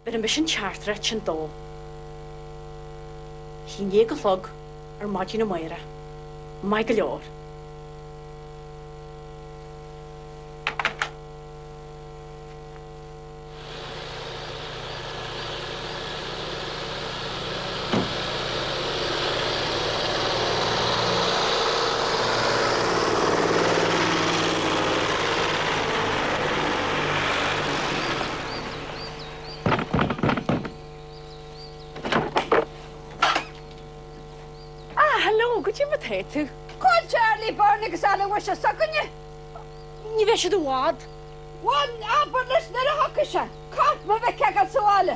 Beirim beisin Chartres chin dó. Chinn naoi a chlog ar maidin a Mháire. Maith go leor. Ah, hello, cad é mar atá tú. Cá bhfuil Charlie Byrne agus Aloysius s'againne? Ní bheidh siad i bhfad. Bhuel, abair leis nuair a thiocfas sé. Caithfidh mé é a bheith agam sa bhaile.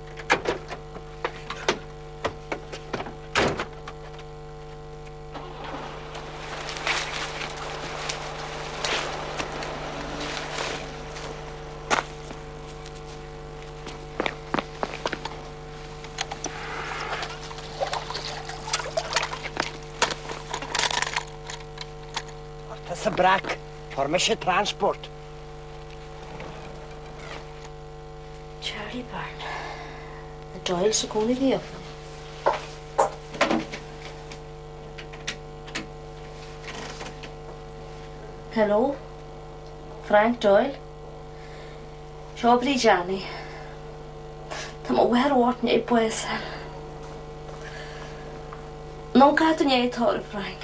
Brack, Formation Transport. Charlie Byrne. The Doyles i gcónaí riamh. Hello? Frank Doyle? Seo Bríd Annie. Tá mo bhar bhhairne i buas. Nó cad an é tóir Frank?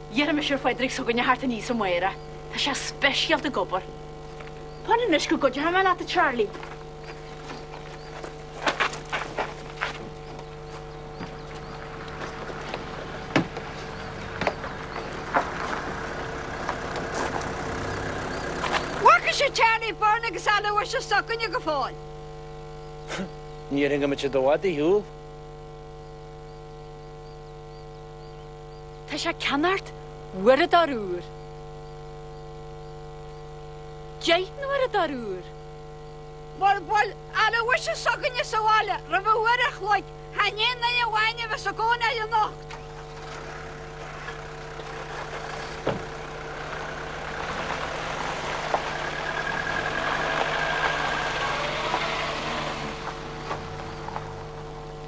D'iarr mise ar Phádraig s'againne theacht aníos, a Mháire. Tá sé speisialta ag obair. Fan anois go gcuideoidh mé leat, a Charlie. Bhfaca sibh Charlie Byrne agus Aloysius s'againne go fóill. Níor tháinig muidne i bhfad ó shin. Tá sé ag ceannacht uaireadóir úr. Cad é an t-uaireadóir úr. Mura bhfuil Aloysius s'againne sa bhaile roimh uair a chloig, chan í Annie amháin a bheas i gcónair anocht.